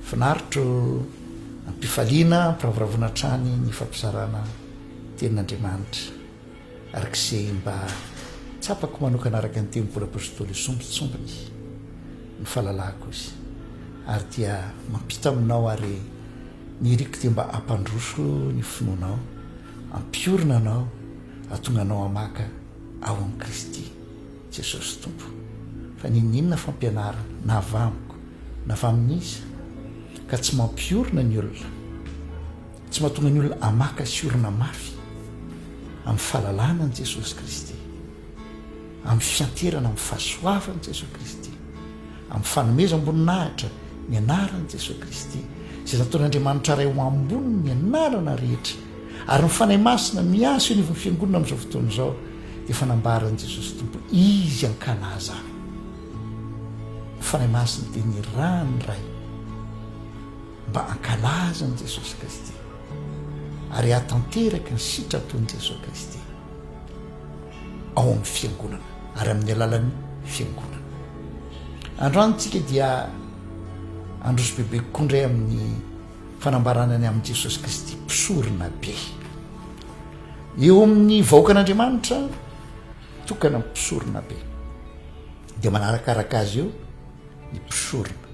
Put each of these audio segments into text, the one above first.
Finaritra o! Am-pifaliana ampiravoravoana hatrany ny fampizarana Tenin'Andriamanitra. Ary k'izay mba tsapako manokana araka ny teny Paoly Apôstôly io sombintsombiny ny fahalalako izy. Ary dia mampita aminao ary ny iriko dia mba hampandroso ny finoanao, hampiorina anao, hahatonga anao hamaka ao amin'i Kristy. Jesosy Tompo, fa niniana fampianarana, na avy amiko, na avy amin'iza, ka tsy mampiorina ny olona, tsy mahatonga ny olona hamaka sy orina mafy amin'ny fahalalana an'i Jesosy Kristy, amin'ny fianteherana amin'ny fahasoavan'i Jesosy Kristy, amin'ny fanomezam-boninahitra ny anaran'i Jesosy Kristy, izay nataon'Andriamanitra Ray ho ambony ny anarana rehetra. Ary ny Fanahy Masina miasa eo anivon'ny Fiangonana amin'izao fotoana izao dia efa nambaran'i Jesosy Tompo Izy an-kalaha izany. Ny Fanahy Masina dia ny ra ny Ray mba hankalazan'i Jesosy Kristy ary hahatanteraka ny sitrapon'i Jesosy Kristy ao amin'ny Fiangonana ary amin'ny alalan'ny Fiangonana. Androany tsika dia androso bebe kokoa indray amin'ny Fanambarana ny amin'i Jesosy Kristy Mpisorona be. Eo amin'ny vahoakan'Andriamanitra tokana Mpisorona be, dia manarakaraka azy eo ny mpisorona.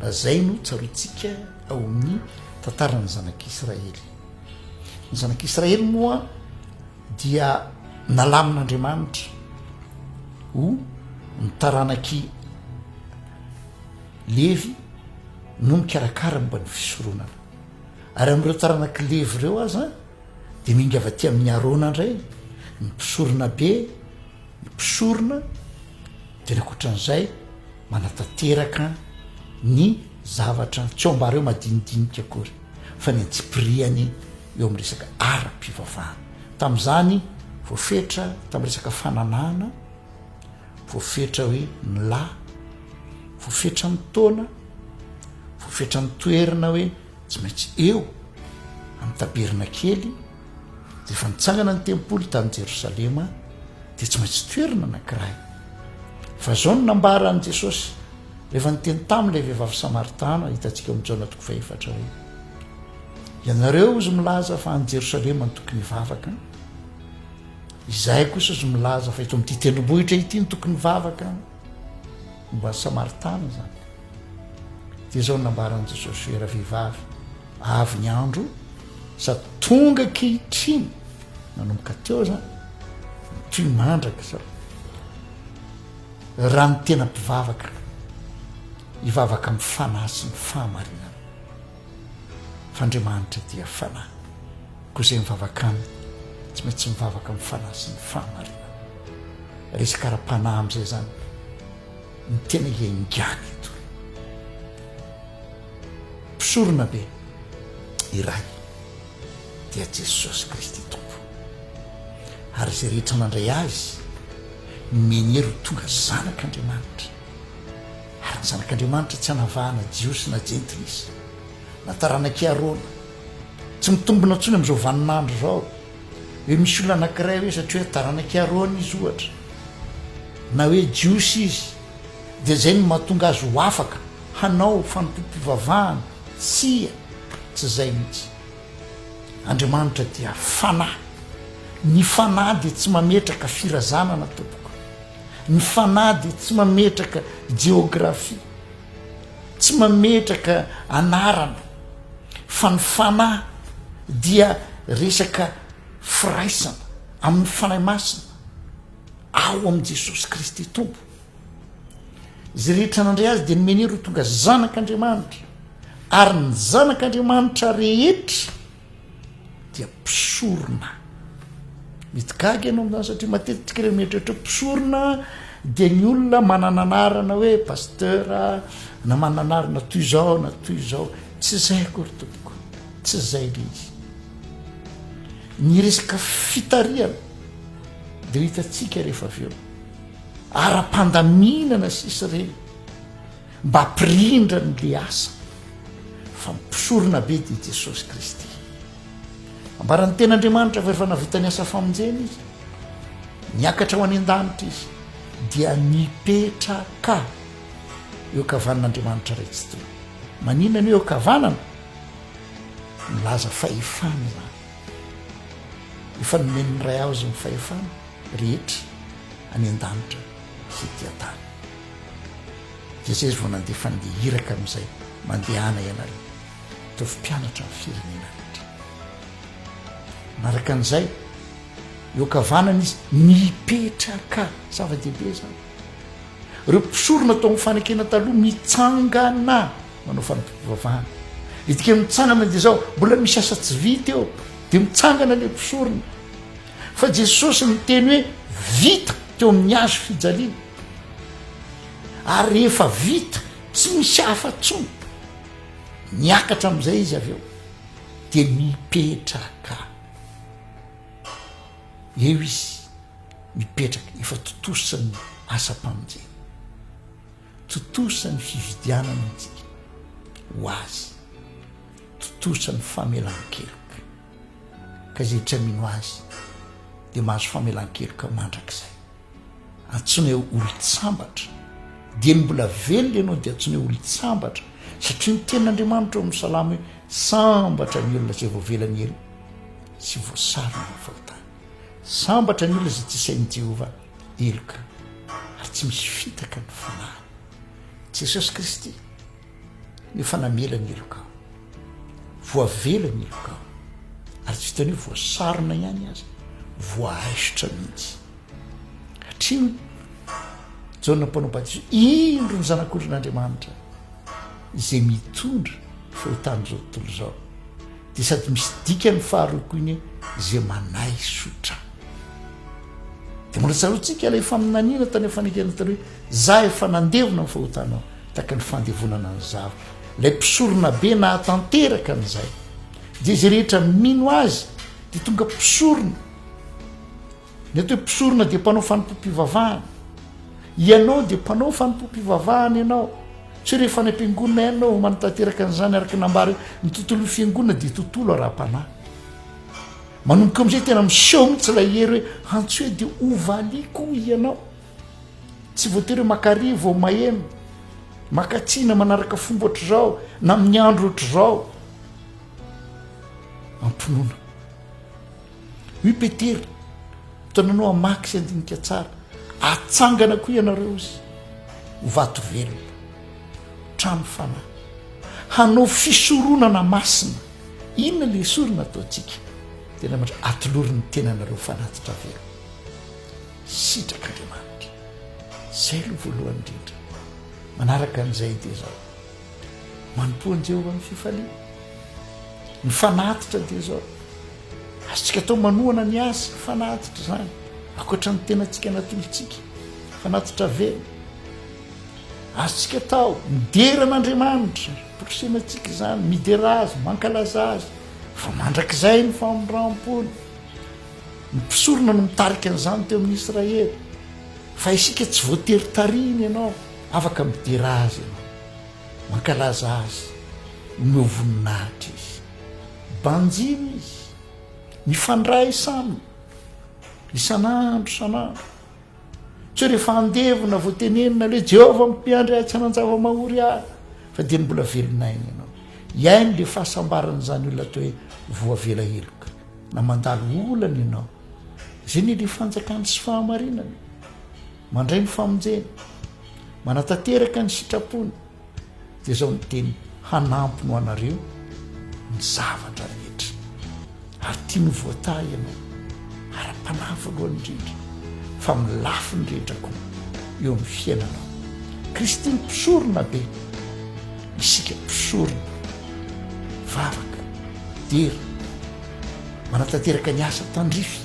Raha izay no tsarointsika ao amin'ny tantaran'ny zanak'Israely. Ny zanak'Israely moa dia nalamin'Andriamanitra ho ny taranak'i Levy, no mikarakara momba ny fisoronana. Ary amin'ireo taranak'i Levy ireo aza dia mihinga avy aty amin'i Arona indray ny mpisoronabe, ny mpisorona, dia ny ankoatran'izay manatanteraka ny zavatra tsy ao mba reo madinidinika akory fa ny antsipiriany eo amin'ny resaka ara-pivavahana. Tamin'izany voafetra tamin'ny resaka fananahana, Voafetra hoe mla, voafetra amin'ny taona, voafetra amin'ny toerana hoe tsy maintsy eo amin'ny tabernakely, dia efa nitsangana ny tempoly tany Jerosalema, dia tsy maintsy toerana anankiray. Fa izao no nambaran'i Jesosy rehefa niteny tamin'ilay vehivavy samaritana, hitantsika ao amin'ny Jaona toko fahefatra hoe, ianareo ozy milaza fa any Jerosalema no tokony hivavaka, Izahay kosa ozy milaza fa eto amin'ity tendrombohitra ity no tokony hivavaka momba an'i Samaritana izany. Dia izao no nambaran'i Jesosy hoe ravehivavy, avy ny andro sady tonga ankehitriny nanomboka teo izany toy ny mandraka izao. Raha ny tena mpivavaka hivavaka amin'ny fanahy sy ny fahamarinana. F'Andriamanitra dia fanahy. Koa izay mivavaka Aminy tsy maintsy mivavaka amin'ny fanahy sy ny fahamarinana. Resaka ara-panahy amin'izay izany no tena iaingàna eto. Mpisoronabe iray dia Jesosy Kristy Tompo. Ary izay rehetra mandray Azy no menier ho tonga zanak'Andriamanitra. Ary ny zanak'Andriamanitra tsy anavahana Jiosy na Jentilisa, na taranak'i Arona, Tsy mitombina intsony amin'izao vaninandro izao. Hoe misy olona anankiray hoe satria hoe taranak'i Arona izy ohatra, na hoe Jiosy izy, dia izay no mahatonga azy ho afaka hanao fanompoam-pivavahana. Tsia, tsy izay mihitsy. Andriamanitra dia Fanahy. Ny Fanahy dia tsy mametraka firazanana, tompoko. Ny Fanahy dia tsy mametraka jeografia. Tsy mametraka anarana fa ny fanahy dia resaka firaisana amin'ny Fanahy Masina ao amin'i Jesosy Kristy Tompo. Izay rehetra nandray azy dia nomeny hery ho tonga zanak'Andriamanitra ary ny zanak'Andriamanitra rehetra dia mpisorona mety gaga ianao amin'izany satria matetika ireo mieritreritra hoe mpisorona dia ny olona manana anarana hoe pasteur na manana anarana toy izao na toy izao tsy izay akory tompoko tsy izay le izy ny resaka fitarihana dia ho hitantsika rehefa avy eo ara-pandaminana sisa ireny Mba ampirindrany ilay asa fa mpisorona be dia i Jesosy Kristy. Ambaran'ny Tenin'Andriamanitra fa efa navita ny asa famonjena izy. Niakatra ho any an-danitra izy dia nipetraka eo ankavanan'Andriamanitra Ray tsy toy. Maninona ny hoe eo ankavanana? Milaza fahefana izany. Efa nomen'ny Ray azy ny fahefana rehetra any an-danitra sy ety an-tany. Dia zay izy vao nandeha fa ndeha hiraka amin'izay mandehana ianareo. Ataovy mpianatra ny firenena rehetra. Manaraka an'izay, eo ankavanana izy mipetraka. Zava-dehibe izany. Ireo mpisorona tao amin'ny fanekena taloha mitsangana manao fanompoam-pivavahana. Ny dikan'ny mitsangana dia izao, mbola misy asa tsy vita eo, dia mitsangana ilay mpisorona. Fa Jesosy niteny hoe vita teo amin'ny hazo fijaliana. Ary rehefa vita, tsy misy hafa intsony. Niakatra amin'izay izy avy eo, dia nipetraka. Eo izy, mipetraka, efa tontosan'ny asam-pamonjena. Tontosan'ny fividianana antsika ho azy. Tontosan'ny famelan-keloka. Ka izay tsy hamino Azy dia mahazo famelan-keloka mandrakizay. Antsoina hoe olon-tsambatra, dieny mbola velona ianao dia antsoina hoe olon-tsambatra, satria ny tenin'Andriamanitra ao amin'ny Salamo hoe sambatra ny olona izay voavelan'ny helo sy voasarona amin'ny fahotana. Sambatra ny olona izay tsy isain'i Jehovah heloka, ary tsy misy fitaka ny fanahiny. Jesosy Kristy. Efa namela ny heloka aho. Voavela ny heloka aho. Ary tsy vitan'io voasarona ihany aza, voahaisotra mihitsy. Hatreo Jaona mpanao batizo, indro ny zanak'ondrin'Andriamanitra izay mitondra fahotan'izao tontolo izao. Dia sady misy dikany faharoa koa iny izay manaisotra. Dia mbola tsaroantsika ilay faminaniana tany amin'ny fanekena tany hoe Za efa nandevona ny fahotanao tahaka ny fandevonana an'i Zava, ilay mpisorona be nahatanteraka an'izay, dia izay rehetra mino azy dia tonga mpisorona. Ny atao hoe mpisorona dia mpanao fanompoam-pivavahana. Ianao dia mpanao fanompoam-pivavahana ianao. Tsy hoe rehefa any am-piangonana ihany ianao vao manatanteraka an'izany araka ny nambara eo. Ny tontolon'ny fiangonana dia tontolo ara-panahy. Manomboka amin'izay tena miseho mihitsy ilay hery hoe antsoe dia hovaliako hoy ianao. Tsy voatery maka ry vao maheno, maka tsina manaraka fomba ohatr'izao na amin'ny andro ohatr'izao. Ampinoana. Hoy Petera, tonanao hamaky sy handinika tsara, atsangana koa ianareo izy, ho vato velona, trano fanahy, hanao fisoronana masina. Inona ilay sorona ataontsika? Tena atolory ny tenanareo fanatitra velona. sitrak'Andriamanitra. Izay aloha voalohany indrindra. Manaraka an'izay dia izao, manompoa an'i Jehovah amin'ny fifaliana. Ny fanatitra dia izao, azontsika atao manohana ny azy ny fanatitra izany, ankoatra ny tenantsika natolotsika, fanatitra velona. Azontsika atao midera an'Andriamanitra, porosena antsika izany, midera azy, mankalaza azy, fa mandrakizay ny famindram-pony. Ny mpisorona no mitarika an'izany teo amin'ny Israely, fa isika tsy voatery tarihina ianao, afaka midera azy ianao, mankalaza azy, omeo voninahitra izy, banjino izy, mifandray izy aminy, isan'andro isan'andro. Tsy hoe rehefa andevona vao tenenina hoe Jehovah mpiandry ahy tsy hanan-java-mahory ahy, fa dia ny mbola velon'aina ianao. Hiaino ilay fahasambaran'izany olona atao hoe voavela heloka. Na mandalo olana ianao. Izay ny ry fanjakany sy fahamarinana. Mandray ny famonjeny. Manatanteraka ny sitrapony. Dia izao ny teny hanampiny ho anareo ny zavatra rehetra. Ary tiany ho voatahy ianao. Ara-panahy voalohany indrindra. Fa amin'ny lafiny rehetra koa eo amin'ny fiainanao. Kristy ny mpisorona be. Isika mpisorona, mivavaka, midera, manatanteraka ny asa tandrify.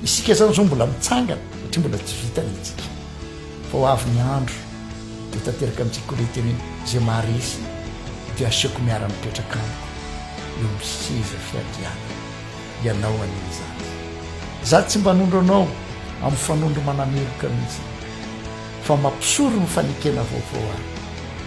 Isika izany izao mbola mitsangana satria mbola tsy vita ny antsika. Fa ho avy ny andro dia ho tanteraka amintsika koa ilay teny hoe izay maharesy dia hasehoko miara-mipetraka amiko eo amin'ny seza fiandrianako. Ianao anie izany. Izaho tsy mba hanondro anao amin'ny fanondro manameloka mihitsy fa mampisoro ny fanekena vaovao aho.